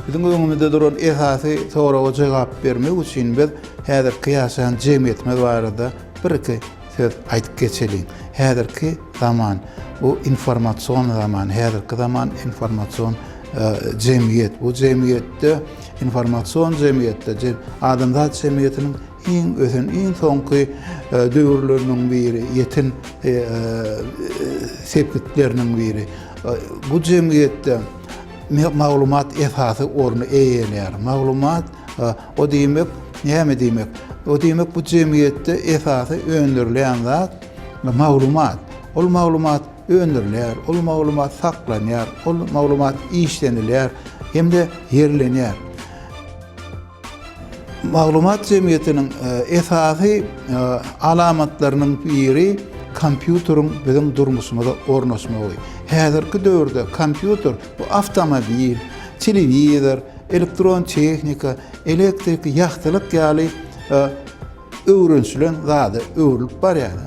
Biziň öňümizde duran esasy soraga jogap bermek üçin biz häzirki ýaşaýan jemgyýetimiz barada bir-iki Söz aýdyp geçeliň. Häzirki zaman bu informasion zaman. Häzirki zaman informasion jemgyýet. Bu jemgyýetde, informasion jemgyýetde adamzat jemgyýetiniň iň ösen, iň soňky döwürleriniň biri, ýeten sepgitleriniň biri. Bu jemgyýetde maglumat esasy orny eýeleýär. Maglumat Ha, o diýmek, näme diýmek? O diýmek, bu jemgyýetde esasy öndürilýän zat maglumat. Ol maglumat öndürilýär, ol maglumat saklanýar, ol maglumat işlenilýär hem-de ýerlenýär. Maglumat jemgyýetiniň e, esasy e, alamatlarynyň biri kompýuteriň biziň durmuşymyza ornaşmagy. Häzirki döwürde kompýuter bu awtomobil, telewizor, elektron tehnika, elektrik, ýagtylyk ýaly öwrenişilen zada öwrülip barýar.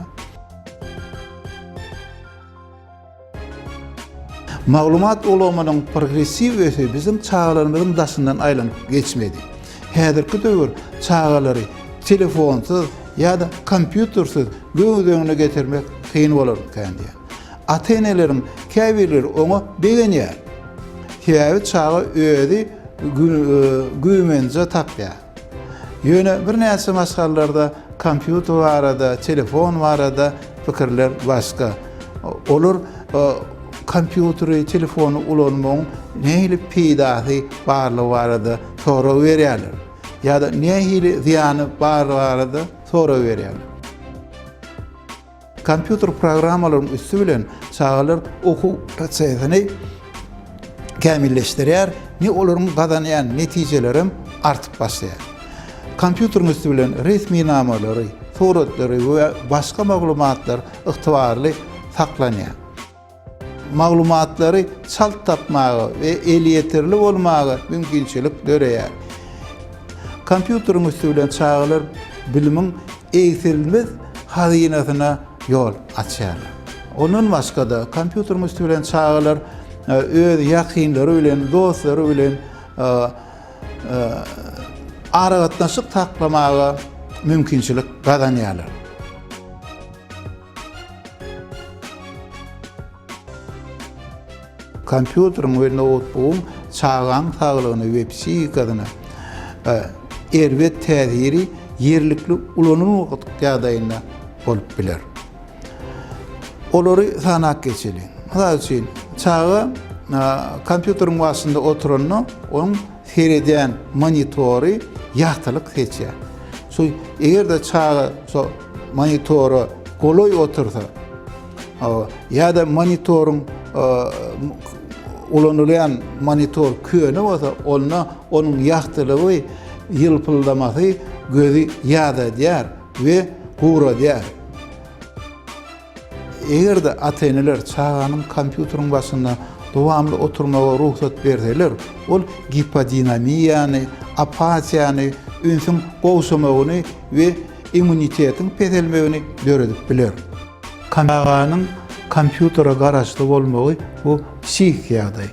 Maglumat ulgamynyň progressiw ösüşi biziň çagalarymyzyň daşyndan aýlanyp geçmedi. Häzirki döwür çagalary telefonsyz ýa-da kompýutersiz göz öňüne getirmek kyn bolar ekeni diýýär. Ata-eneleriň käbirleri oňa begenýär. Sebäbi çaga özi güýmenje tapýar. Ýöne birnäçe maşgalalarda kompýuter barada, telefon barada pikirler başga. Olar kompýuteri, telefony ulanmagyň nähili peýdasy barlygy barada sorag berýärler. Ýa-da nähili zyýany barlygy barada sorag berýärler. Kompýuter programmalaryň üsti bilen çagalar okuw prosesini kämilleşdirýär ne olaryň gazanýan netijeleri hem artyp başlaýar. Kompýuteriň üsti bilen resminamalary, suratlary we başga maglumatlar ygtybarly saklanýar. Maglumatlary çalt tapmaga we elýeterli bolmaga mümkinçilik döreýär. Kompýuteriň üsti bilen çagalar bilimiň egsilmez hazynasyna ýol açýar. Ondan başga-da, kompýuteriň üsti bilen çagalar e, öz ýakynlary bilen, dostlary bilen e, e, aragatnaşyk saklamaga mümkinçilik gazanýarlar. Kompýuteriň we noutbugyň çagaň saglygyna we psihikasyna erbet täsiri ýerlikli ulanylmadyk ýagdaýynda bolup biler. Olary sanap geçeliň. Mysal üçin, çaga kompýuteriň başynda oturanda, onuň seredýän monitory ýagtylyk seçýär. Şu, eger-de çaga şo. monitora golaý otursa ýa-da monitoryň ulanylýan monitor köne bolsa, onda onuň ýagtylygy, ýylpyldamasy gözi ýadadýar we guradýar. Eger-de ata-eneler çaganyň kompýuteriň başynda dowamly oturmaga rugsat berseler, ol gipodinamiýany, apatiýany, ünsüň gowşamagyny we immunitetiň peselmegini döredip biler. Çaganyň kompýutere garaşly bolmagy bu psihiki ýagdaý.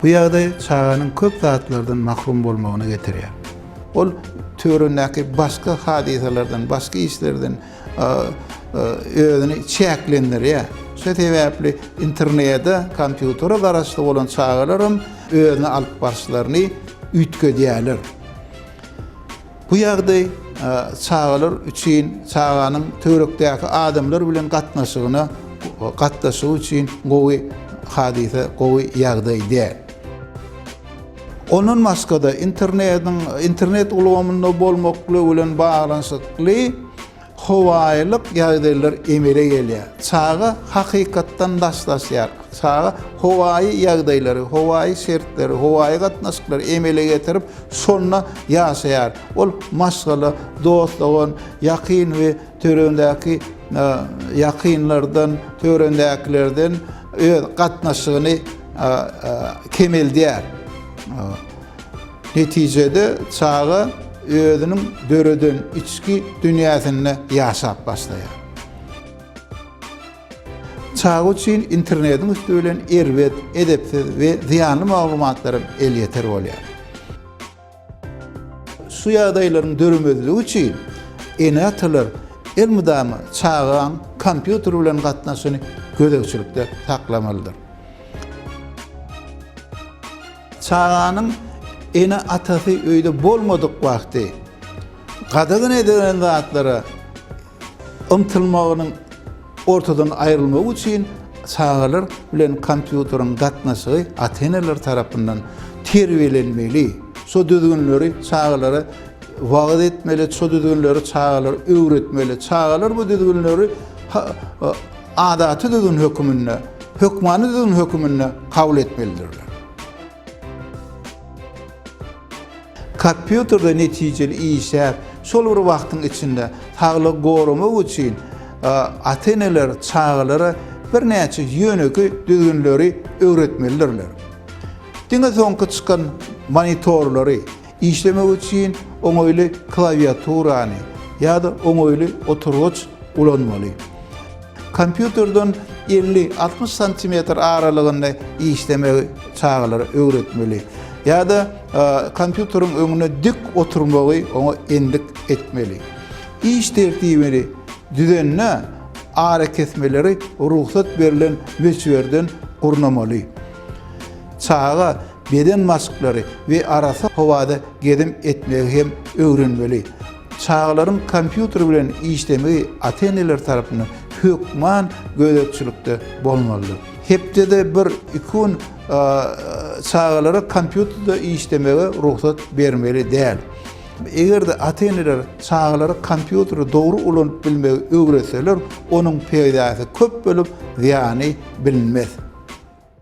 Bu ýagdaý çaganyň köp zatlardan mahrum bolmagyna getirýär. Ol töweregindäki başga hadysalardan, başga işlerden özüni çäklendirýär. Şu sebäpli internete, kompýutere garaşly bolan çagalaram özüni alyp barşlaryny üýtgedýärler. Bu ýagdaý çagalar üçin, çaganyň töwerekdäki adamlar bilen gatnaşygyna gatnaşygy üçin gowy hadysa, gowy ýagdaý däl. Ondan başga-da, internetiň internet ulgamynda bolmaklygy bilen baglanyşykly howaýylyk ýagdaýlar emele gelýär. Çaga hakykatdan daşlaşýar. Çaga howaýy ýagdaýlary, howaýy şertleri, howaýy gatnaşyklary emele getirip, şonda ýaşaýar. Ol maşgala, dost-dogan, ýakyn we Töweregindäki ýakynlardan, töweregindäkilerden öz gatnaşygyny kemeldýär. Netijede çaga özüniň döreden içki dünýäsinde ýaşap başlaýar. Çaga üçin internetiň üsti bilen erbet, edepsiz we zyýanly maglumatlaram elýeter bolýar. Şu ýagdaýlaryň döremezligi üçin ene-atalar elmydama çagaň kompýuter bilen gatnaşygyny gözegçilikde saklamalydyr. Çaganyň ene-atasy öýde bolmadyk wagty gadagan edilen zatlara Ymtylmagynyň ortadan aýrylmagy üçin çagalar bilen kompýuteriň gatnaşygy ata-eneler tarapyndan terbiýelenmeli. Şu düzgünleri çagalara wagyz etmeli, şu düzgünleri çagalara öwretmeli. Çagalar bu düzgünleri adaty düzgün höküminde, hökmany düzgün höküminde kabul etmelidirler. Kompýuterde netijeli işläp, şol bir wagtyň içinde saglygy goramak üçin ata-eneler çagalara birnäçe ýönekeý düzgünleri öwretmelidirler. Diňe soňky çykan monitorlary, Işlemek üçin oňaýly klawiaturany ýa-da oňaýly oturgyç ulanmaly. Kompýuterden elli, altmyş santimetr aralygynda işlemegi çagalara öwretmeli. Ýa-da kompýuteriň öňünde dik oturmagy oňa endik etmeli. Iş tertibini düzende arakesmeleri rugsat berlen möçberden gurnamaly. Çaga beden maşklary we arassa howada gezim etmegi hem öwrenmeli. Çagalaryň kompýuter bilen işlemegi ata-eneler tarapyndan hökman gözegçilikde bolmalydyr. Hepdede bir, iki gün çagalara kompýuterde işlemege rugsat bermeli däl. Eger-de ata-eneler çagalara kompýuteri dogry ulanyp bilmegi öwretseler, onuň peýdasy köp bolup, zyýany bilinmez.